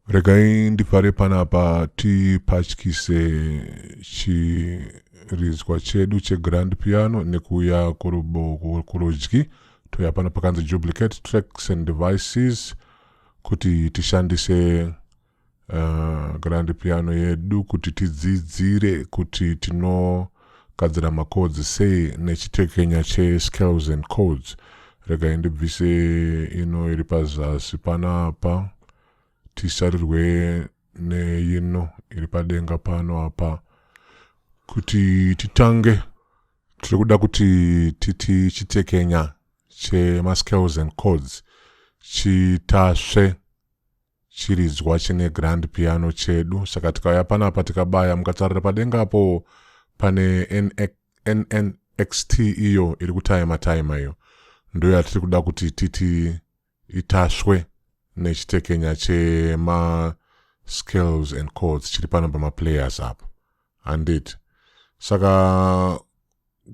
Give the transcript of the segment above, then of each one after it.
regai ndipare panapa tipatyise chiridzwa chedu chegrand piano nekuuya kurudyi toya pano pakanzi duplicate tracks and devices kuti tishandise uh, grand piano yedu kuti tidzidzire kuti tinogadzira macodes sei nechitekenya chescales and codes regai ndibvise ino iri pazasi panapa tisarirwe neino iri padenga pano apa kuti titange tiri kuda kuti titi chitekenya chemascales and codes chitasve Chiridzwa chine grand piano chedu saka tikauya panapa tikabaya mukatarira padenga apo pane NNXT iyo iri kutaima taima iyo ndoyo yatiri kuda kuti titi itaswe nechitekenya chema scales and chords chiri pano pamaplayers apo handiti saka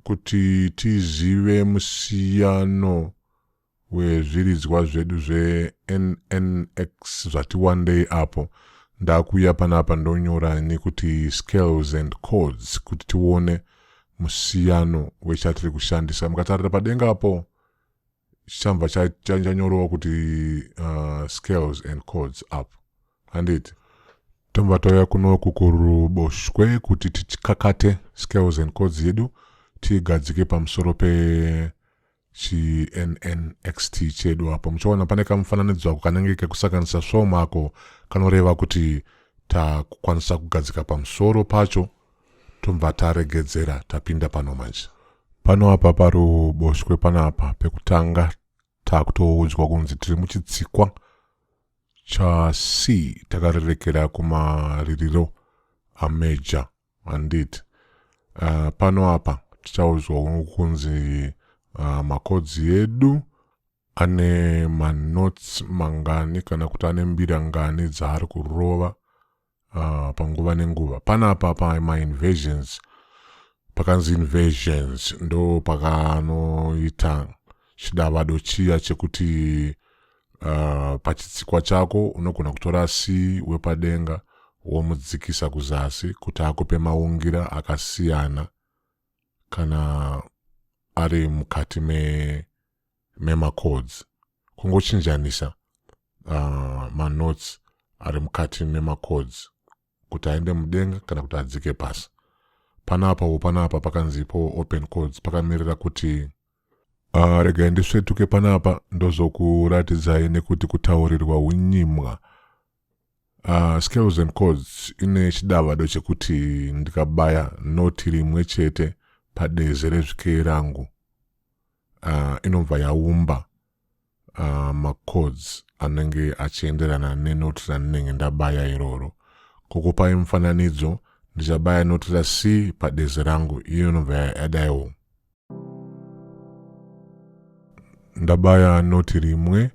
kuti tizive musiyano wezviridzwa zvedu zveNNX zvati wandei apo ndakuuya panapa ndonyora nekuti scales and chords kuti tione musiyano wechatiri kushandisa mukatarira padenga apo chichamva chanyorewa kuti uh, scales and chords apo handiti tobva tauya kuno kukuruboshwe kuti tikakate scales and chords yedu tiigadzike pamusoro pe chinxt chedu apo muchaona pane kamufananidzo ako kanenge kekusakanisa svom ako kanoreva kuti takukwanisa kugadzika pamusoro pacho tobva taregedzera tapinda pano manje pano apa paruboshwe panapa pekutanga takutoudzwa kunzi tiri muchitsikwa chasi takarerekera kumaririro ameja Handiti. Uh, pano apa tichaudzwa kunzi uh, makodzi edu ane manotes mangani kana kuti ane mbira ngani dzaari kurova uh, panguva nenguva panapa pa mainvasions pakanzi invasions ndo pakanoita chidavado chiya chekuti uh, pachitsikwa chako unogona kutora si wepadenga womudzikisa kuzasi kuti akupe maungira akasiyana kana ari mukati me, memacodes kungochinjanisa uh, manotes ari mukati memacodes kuti aende mudenga kana kuti adzike pasi panapawo panapa pakanzi ipowo open codes pakamirira kuti uh, regai ndisvetuke panapa ndozokuratidzai nekuti kutaurirwa unyimwa uh, ah, scales and codes ine chidavado chekuti ndikabaya noti rimwe chete padeze rezvikei rangu uh, inobva yaumba uh, macodes anenge achienderana nenoti randinenge ndabaya iroro kukupai mufananidzo ndichabaya noti ra c padezi rangu iyo inobva yadaiwo ndabaya noti rimwe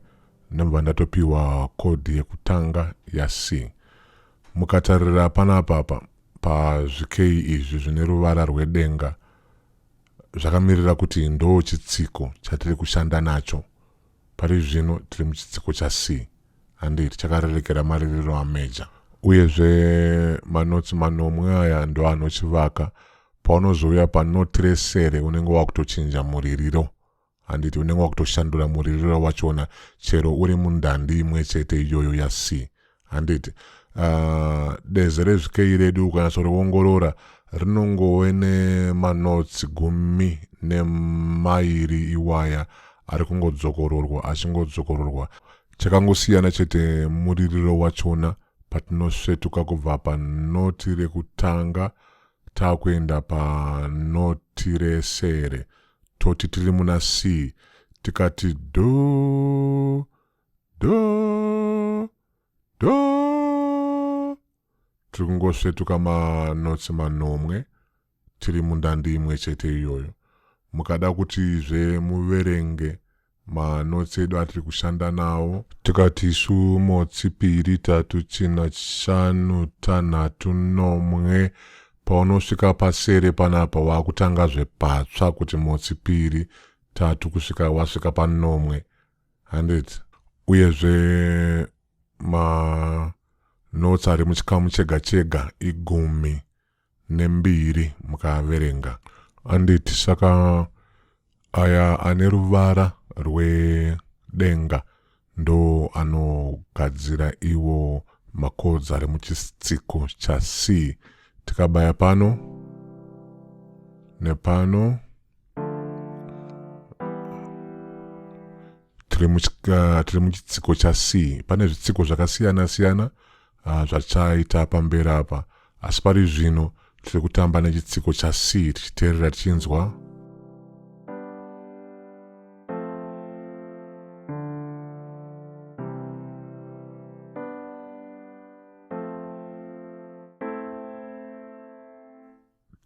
ndobva ndatopiwa kodhi yekutanga ya c mukatarira panapa pa pazvikei izvi zvine ruvara rwedenga zvakamirira kuti ndo chitsiko chatiri kushanda nacho pari zvino tiri muchitsiko chasii handiti chakarerekera maririro ameja uyezve manotsi manomwe aya ndo anochivaka paunozouya panoti resere unenge wakutochinja muririro handiti unenge wakutoshandura muririro wachona chero uri mundandi imwe chete iyoyo yasi handiti uh, ah, deze rezvikei redu ukanyatsoreongorora rinongove nemanotsi gumi nemairi iwaya ari kungodzokororwa achingodzokororwa chakangosiyana chete muririro wachona patinosvetuka kubva panoti rekutanga Takuenda pa Notiresere toti tiri muna C tikati do do do tiri kungosvetuka manotsi manomwe tiri mundandi imwe chete iyoyo mukada kuti zve muverenge Manotes edu atiri kushanda nawo. Tikati isu motsi piri tatu tsina shanu tanhatu nomwe paunosvika pasere panapa wakutanga zvepatsva kuti motsi piri tatu kusvika wasvika panomwe handit uyezve ma notes ari muchikamu chega chega igumi nembiri mukaverenga. Anditi saka aya ane ruvara rwedenga ndo anogadzira iwo makodza ari muchitsiko cha C tikabaya pano nepano tiri muchitsiko cha C pane zvitsiko zvakasiyana siyana Ah, zvachaita pamberi apa asi pari zvino tiri kutamba nechitsiko chac tichiteerera tichinzwa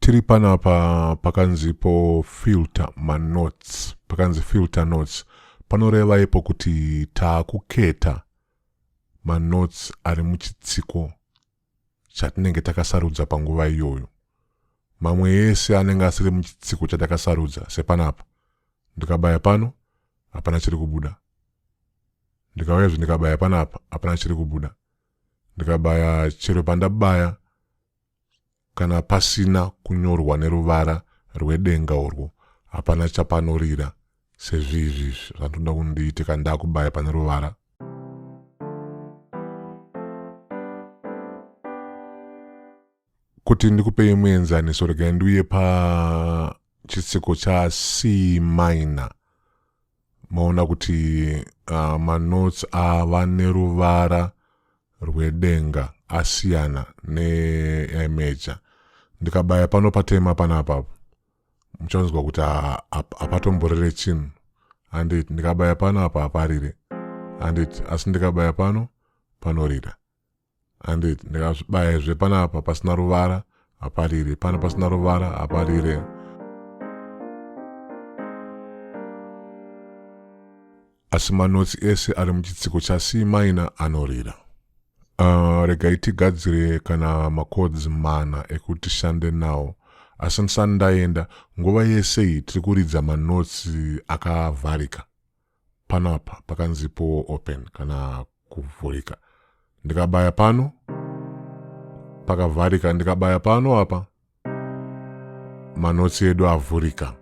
tiri panapa pakanzipo filter manotes pakanzi filter notes panoreva ipo kuti taakuketa manotes ari muchitsiko chatinenge takasarudza panguva iyoyo mamwe ese anenge asiri muchitsiko chatakasarudza sepanapa ndikabaya pano hapana chiri kubuda ndikauya zve ndikabaya panapa hapana chiri kubuda ndikabaya chero pandabaya Kana pasina kunyorwa neruvara rwedenga urwo hapana chapanorira sezvizvi zvandinoda kundiite kana ndakubaya pane ruvara kuti ndikupei muenzaniso regai ndiuye pachitsiko chacmina maona kuti uh, manotes ava neruvara rwedenga asiyana neemeja ndikabaya pano patema panapa muchanzwa kuti hapatomborere chinhu handit ndikabaya pano apa haparire handit asi ndikabaya pano panorira handi ndikazvibayezve panapa pasina ruvara haparire pana pasina ruvara haparire asi manotsi ese ari muchitsiko chasi maina anorira uh, regai tigadzire kana makodzi mana ekuti tishande nawo asi ndisani ndaenda nguva yese iyi tiri kuridza manotsi akavharika panapa pakanzi power open kana kuvhurika ndikabaya pano pakavharika ndikabaya pano apa manotsi edu avhurika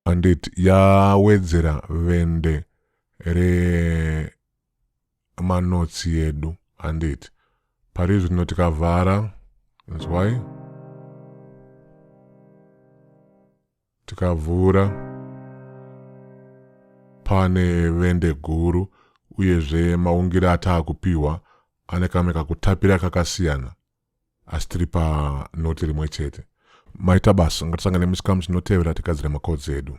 andit yawedzera vende remanotsi edu andit pari zvino tikavhara nzwai Tikavhura pane vende guru uyezve maungire ataakupiwa ane kamwe kakutapira kakasiyana asi tiri panoti rimwe chete. Maita basa, ngatisangane muchikamu chinotevera tigadzire makodzi edu.